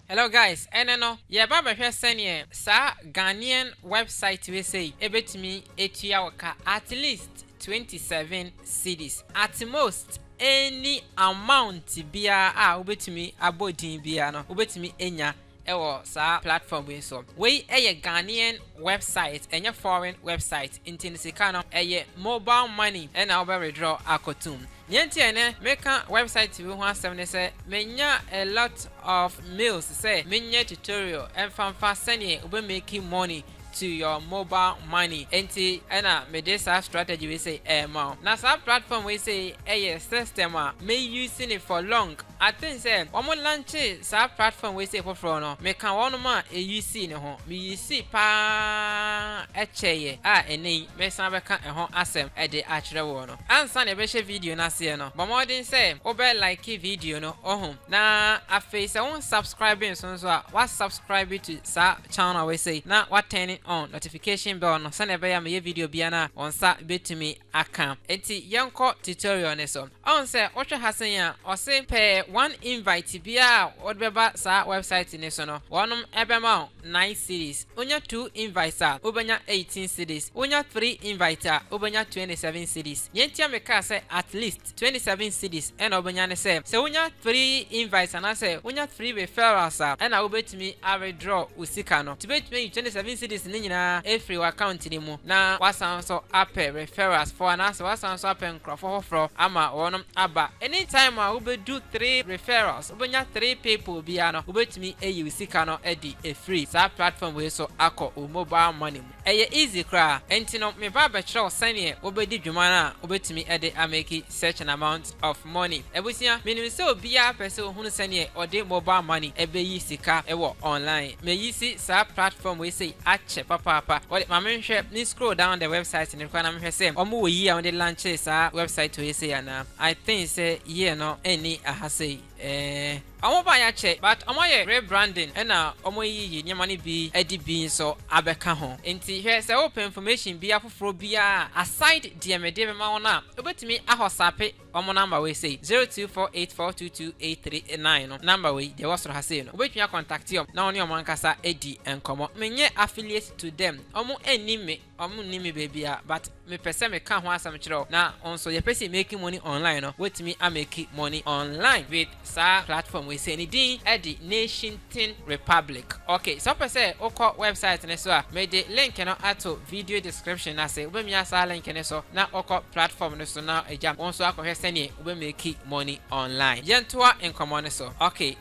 Hello guys, ɛnnɛ no yɛreba abɛhwɛ sɛdeɛ saa Ghanaian website wei sei ɛbɛtumi atua wo ka at least twenty seven cedis, at most any amount biara a wobɛtumi abɔ din biara no wobɛtumi anya wɔ saa platform wei so. Wei yɛ Ghanaian website ɛnyɛ foreign website nti no sika no ɛyɛ mobile money na wobɛ withdraw akɔtom. Nea enti a ɛnnɛ meka wɛbsaet bi ho asɛm ne sɛ manya a lot of mails sɛ menyɛ tutorial mfa mfa sɛdeɛ wobɛ make money to your mobile money enti ɛna mede saa strategy wei sei ɛrema wo. Na saa platform wei sei ɛyɛ system a me use no for long. I think sɛ wɔn launchee saa platform wei sei foforɔ no meka wɔnom a ɛ usee no ho. Me usee paa ɛkyɛeɛ a ɛnnɛ yi meresan abɛka ɛho asɛm ɛde akyerɛ woɔ. Ansa na yɛbɛhyɛ video no aseɛ no, bɔ mmɔden sɛ wobɛ like video no ohum, na afei sɛ wo nsubscribe nso nso a, wa subscribe to saa channel wei sei na wa turn on notification bell no sɛdeɛ ɛbɛyɛ a meyɛ video biara no a wo nsa bɛtumi aka. Enti yɛnkɔ tutorial no so. Ɔhu sɛ wohwɛ ha sɛn a, ɔse pɛ one invite biara a wode bɛba saa website no so no, wɔnom ɛbɛma wo. nine cedis, wonya two invites a, wobɛnya eighteen cedis, wonya three invites a, wobɛnya twenty seven cedis. Nea enti a mekaa sɛ at least twenty seven cedis na wobɛnya ne sɛ, sɛ wonya three invites anaasɛ wonya three referrals a, ɛnna wobɛtumi a-withdraw wo sika no. Nti wobɛtumi ayi twenty seven cedis no nyinaa afiri w'account no mu na woasan nso apɛ referralsfoɔ anaasɛ woasan nso apɛ nkurɔfoɔ foforɔ ama wɔnom aba. Anytime a wobɛdu three referrals, Wobɛnya three people biara no wobɛtumi ayi wo sika no adi afiri saa platform wei so akɔ wo mobile money mu. Ɛyɛ easy koraa. Ɛnti no me ba bɛkyerɛ wo sɛdeɛ wobɛdi dwuma no a wobɛtumi de a make such an amount of money. Abusua, menim sɛ obiara pɛ sɛ ɔhunu sɛdeɛ ɔde mobile money ɛbɛyi sika wɔ online. Mayi si saa platform wei sei akyɛ papaapa. Wode ma me nhwɛ, me scroll down the website no koraa na mehwɛ sɛ wɔn wɔ yi a wɔde launchee saa website wei sei anaa. I think sɛ year no nni ha sei eh. Ɔmo baeɛ akyɛ but ɔmo ayɛ rebranding ɛna ɔmo ayiyi nneɛma no bi adi bi nso abɛka ho nti hwɛ sɛ wopɛ information bi afoforɔ biara aside deɛ mede bɛma wo no a wobɛtumi ahɔsape ɔmo number wei sei 0248422839 no number wei deɛ ɛwɔ soro ha sei no wobɛtumi a contacte ɔmo na wo ne ɔmo ankasa adi nkɔmmɔ menyɛ affiliate to them ɔmo nnim me Ɔmo nnim me baabiara but me pɛ sɛ me ka ho asɛm kyerɛ wo na wo nso yɛ pɛ sɛ make money online no wobɛtumi a make money online with saa platform wei sei ne din de nation tin republic ok sɛ wopɛ sɛ wo kɔ website ne so a me de link no ato video description no ase wobɛmia saa link ne so na wo kɔ platform no so na agya wo nso akɔhwɛ sɛneɛ wobɛ make money online yɛntoa nkɔmɔ no so ok.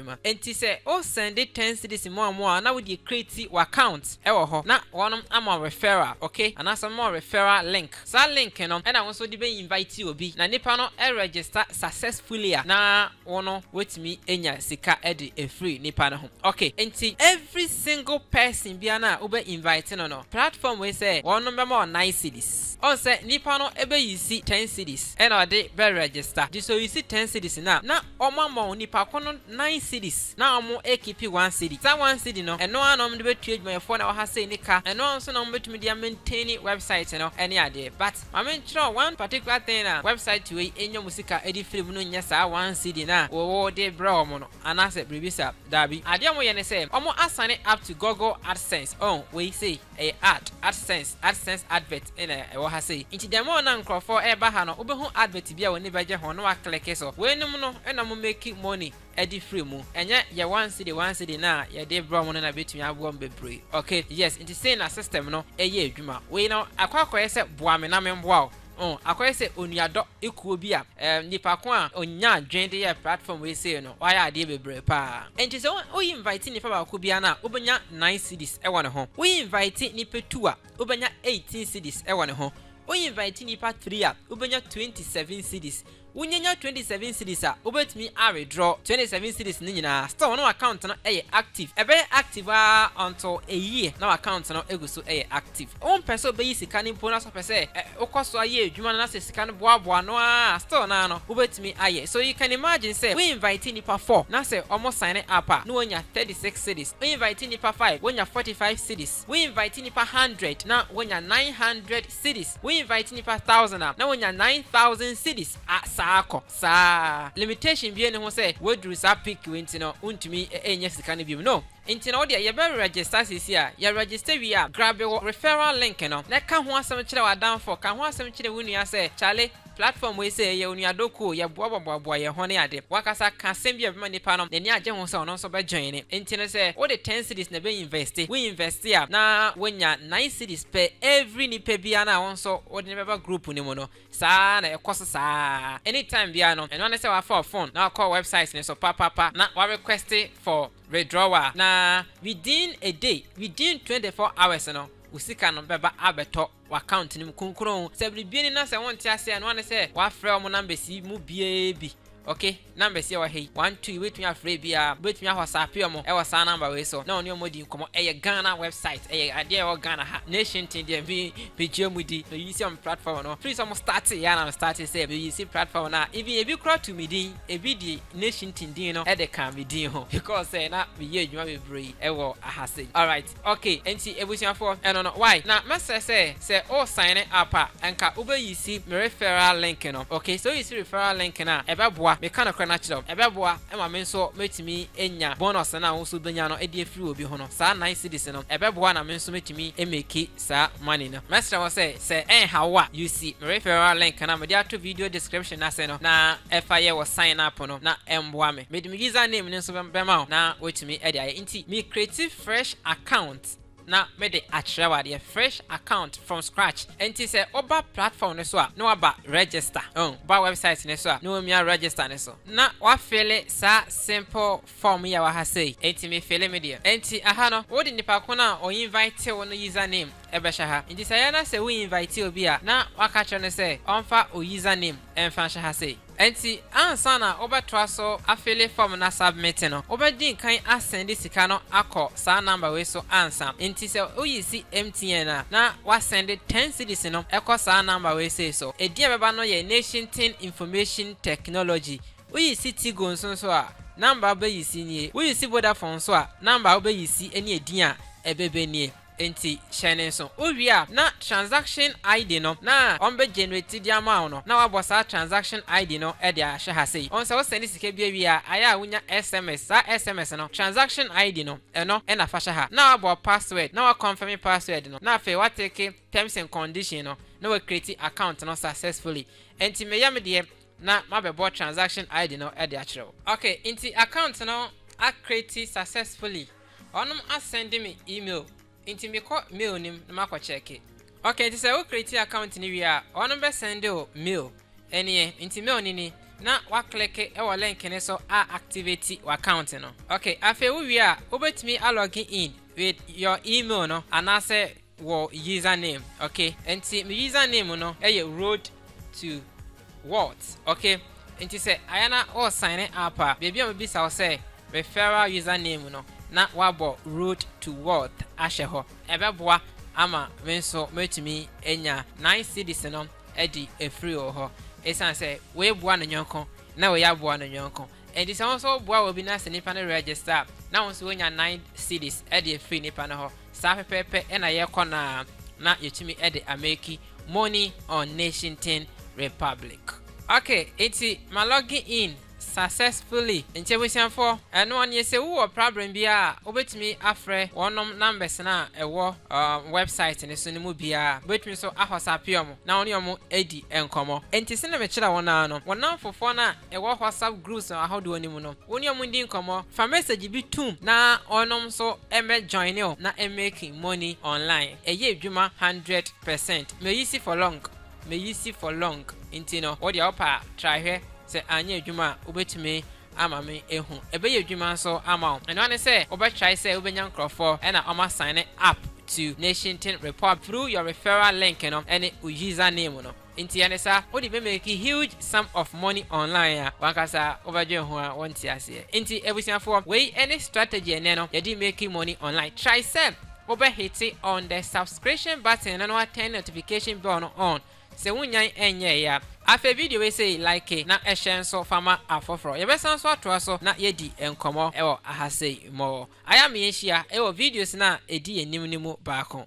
adwuma. Enti sɛ wo sɛnde ten cedis mmoa mmoa a na wo deɛ creati wo account wɔ hɔ na wɔnom ama wo referral ok anaasɛ wɔbɛma wo referral link saa link no ɛna wo nso de bɛ invite obi na nipa no register successfully a na wo no watumi anya sika de afiri nipa no ho ok enti every single person biara no a wo bɛ invite no no platform wei sɛ wɔnom bɛma wo nine cedis. Ɔn sɛ nipa no bɛ yisi ten cedis ɛna ɔde bɛ register de so yisi ten cedis no a na ɔmo ama wɔn nipa ko no nine cedis na ɔmo ɛkipi one cedi saa one cedi no ɛno ara na ɔmo de bɛ tua adwumayɛfoɔ na ɛwɔ ha sei ne ka ɛno ara nso na ɔmo bɛtumi de a maintaini website no ɛne adeɛ but ma me nkyerɛw one particular thing a website wei nya ɔmo sika ɛde firi mu no nyɛ saa one cedi no a wo wo de brɛ ɔmo no anaasɛ biribi saa daabi adeɛ ɔmo yɛ ne sɛ ɔmo asane up to Google AdSense ɔn wei sei. Ɛyɛ ad, AdSense, AdSense advert na ɛwɔ ha sei. Nti dɛm a na nkorɔfoɔ ɛɛba ha no wobɛhu advert bi a w'ani bɛgye ho na w'aklikke so. Weinom no na ɔmo meki money ɛde firi mu. Ɛnyɛ yɛ one cedi one cedi no a yɛde brɛ ɔmo no na ɛbɛtumi aboa ɔmo bebree. Ok, yes, nti sei na system no ɛyɛ adwuma. Wei no akɔ akɔyɛ sɛ boa me na memboa wo. O, akɔyɛ sɛ onuadɔ ekuo bi a ɛɛ, nipa ko a ɔnyaa adwene de yɛɛ platform wei sei no, wayɛ adeɛ bebree paa. Enti sɛ wo invite nipa baako biara no a, wo bɛnya nine cedis wɔ ne ho. Wo invite nipa two a, wo bɛnya eighteen cedis wɔ ne ho. Wo invite nipa three a, wo bɛnya twenty seven cedis. Wunya nya twenty seven cedis a, wobɛtumi a withdraw twenty seven cedis no nyinaa, still na w'account no yɛ active. Ɛbɛyɛ active aa until a year na w'account no gu so yɛ active. Wompɛ sɛ wobɛyi sika no mpo na sɛ wopɛ sɛ ɛ, wokɔ so a yɛ adwuma no na sɛ sika no boaboa ano aa a, still no aa no wobɛtumi a yɛ. So you can imagine sɛ wo invite nnipa four na sɛ wɔn signe up a, na wɔnya thirty six cedis. Wo invite nnipa five, wɔnya forty five cedis. Wo invite nnipa hundred na wɔnya nine hundred. cedis wo invite nipa thousand a na wonya nine thousand cedis a saa kɔ saa limitation bia ni ho sɛ waduru saa peak wei nti no wontumi ɛnya sika no biom no nti no wodeɛ yɛbɛ register seisei a yɛ register wie a grabe wo referral link no na ka ho asɛm kyerɛ w'adanfoɔ ka ho asɛm kyerɛ wo nua sɛ kyale Platform wei sɛ yɛ onua Doku, yɛ boa boa boa boa yɛ ho ne ade. Wankasa ka asɛm bi a ɛbɛma nipa no n'ani agye ho sɛ ɔno nso bɛ join ne. Nti no sɛ wode ten cedis na ɛbɛ investe, wo investe a na wonya nine cedis pɛ every nipa biara no a wo nso wode no bɛba group no mu no. Saa ara na ɛkɔ so saa ara. Any time biara no ɛno ara ne sɛ wafa wo phone na wakɔ website no so pa pa pa na wa request for withdrawal na within a day, within twenty four hours no wo sika no bɛba abɛtɔ. w'account no mu kronkron. Sɛ biribi ni na sɛ wonte aseɛ a, noa ne sɛ wafrɛ wɔn numbers yi mu biara bi. Ok, numbers yi a ɛwɔ ha yi, one, two, wobɛtumi afrɛ ebiara. Wobɛtumi awhasappe wɔn wɔ saa number wei so na wɔne wɔn adi nkɔmmɔ. Ɛyɛ Ghana website, ɛyɛ adeɛ a ɛwɔ Ghana ha. Nation tee deɛ me, megye wɔn di. Me use wɔn platform no, firi sɛ wɔn startee yɛ a na me startee sɛ me use platform no a, even ebi koraa too me din, ebi de Nation tee din no de kaa me din ho because sɛ na meyɛ adwuma bebree wɔ ahase. Alright. Ok enti abusuafoɔ ɛno no why na mɛsrɛ sɛ sɛ o sign up a nka wo bɛ use me referral link no ok sɛ o use referral link no a ɛbɛboa me ka nokorɛ no akyerɛ wo ɛbɛboa ma me nso mɛtumi anya bonus no a wo nso wo bɛnya no de afiri obi ho no saa nine cedis no ɛbɛboa na me nso mɛtumi a make saa money no mɛsrɛ wo sɛ sɛ ɛnha wo a use me referral link no a mede ato video description no ase no na fa yɛ wo sign up no na ɛmboa me mede me user name no nso bɛma wo na woatumi de ayɛ nti me create fresh account na me de akyerɛ wo adeɛ, fresh account from scratch, nti sɛ wo ba platform no so a na waba register, oh, wo ba website no so a na wamia register no so, na wa fille saa simple form yi a ɛwɔ ha sei, nti me fille me deɛ, nti aha no wo de nipa ko no a ɔ invite wo no user name ɛbɛhyɛ ha, nti sɛ ɛyɛ na sɛ wo invite obi a na waka kyerɛ no sɛ ɔmfa wo user name mfa nhyɛ ha sei. Enti ansa na wobɛtoa so afele fɔm no asubmit no, wobɛdi nkan asɛnde sika no akɔ saa number wei so ansa. Enti sɛ woyi si MTN a, na woasɛnde ten cedis no kɔ saa number wei sei so. Edin a ɛbɛba no yɛ Nation-tin Information Technology. Woyi si Tigo nso nso a, number a wobɛyi si nie. Woyi si Vodafone nso a, number a wobɛyi si ne edin a ɛbɛbɛ nie. Enti hyɛ no nso. Wo wie a na transaction ID no na wɔn bɛ generate de ama wo no na wabɔ saa transaction ID no de ahwɛ ha sei. Wɔn sɛ wo sɛnde sika bi awie a ayɛ a wo nya SMS saa SMS no transaction ID no ɛno na fa hyɛ ha na wabɔ password na wa confirm password no na afei wa take terms and condition no na wa create account no successfully. Enti me yɛ me deɛ na mabɛbɔ transaction ID no de akyerɛ wo. Ok nti account no a create successfully, ɔnom a send me email nti me kɔ mail no mu na makɔ check. Ok nti sɛ wo create account no wie a ɔnom bɛ send wo mail nie nti mail no ni na wa click wɔ link no so a activate wo account no. Ok afei wo wie a wobɛtumi a login in with your email no anaasɛ wɔ username ok nti me username no yɛ road to walt ok nti sɛ ayɛ na ɔɔ sign up a baabi a ɔmo bisa wo sɛ referral username no na wabɔ road to walt ahyɛ hɔ ɛbɛboa ama me nso mɛtumi anya nine cedis no adi afiri wo hɔ ɛsiane sɛ wei boa ne nyɔnko na wei aboa ne nyɔnko Enti sɛ wo nso woboa obi na sɛ nipa no register a, na wo nso wonya nine cedis de afiri nipa no hɔ. Saa pɛpɛɛpɛ na yɛkɔ no ara na yɛtumi de ameki money on Nation-tin Republic. Ok, enti ma logge in successfully. Enti abusuafoɔ, ɛnoɔ neɛ sɛ wo wɔ prabrɛm biara a, wobɛtumi afrɛ wɔnom numbers no a ɛwɔ um, website no so no mu biara. Wobɛtumi nso ahɔsape wɔn na wo ne wɔn adi nkɔmmɔ. Enti sɛdeɛ mekyerɛ wo no ara no, wo namfofoɔ no a ɛwɔ WhatsApp groups ahodoɔ no mu no, wo ne ɔmo ndi nkɔmmɔ, fa message bi toom na ɔnom nso mmɛ joine wo na mmake money online. Ɛyɛ adwuma hundred percent. Meyisi for long, meyisi for long nti no wo deɛ wopɛ a try hwɛ, sɛ anyɛ adwuma a wobɛtumi ama me ahu. Ɛbɛyɛ adwuma nso ama wo. Ɛno ara ne sɛ wobɛ try sɛ wobɛnya nkorɔfoɔ ɛna ɔmo assigne up to Nation Tin Repub through your referral link no ɛne wo user name no. Nti yɛ ne sa, wode bɛ make huge sum of money online a, wankasa wobɛdwen ho a wonte aseɛ. Nti abusuafoɔ, wei ne strategy ɛnnɛ no yɛde make money online. Try sɛ wobɛ hite on the subscription button no na turn notification bell no on, sɛ wonyan ɛnyɛɛe a. Afei video wei sei like na hyɛ nso fa ma afoforɔ. Yɛbɛsan nso atoa so na yɛadi nkɔmmɔ wɔ aha sei more. Ayɛ ma yɛnhyia wɔ videos no a ɛdi yɛn anim no mu baako.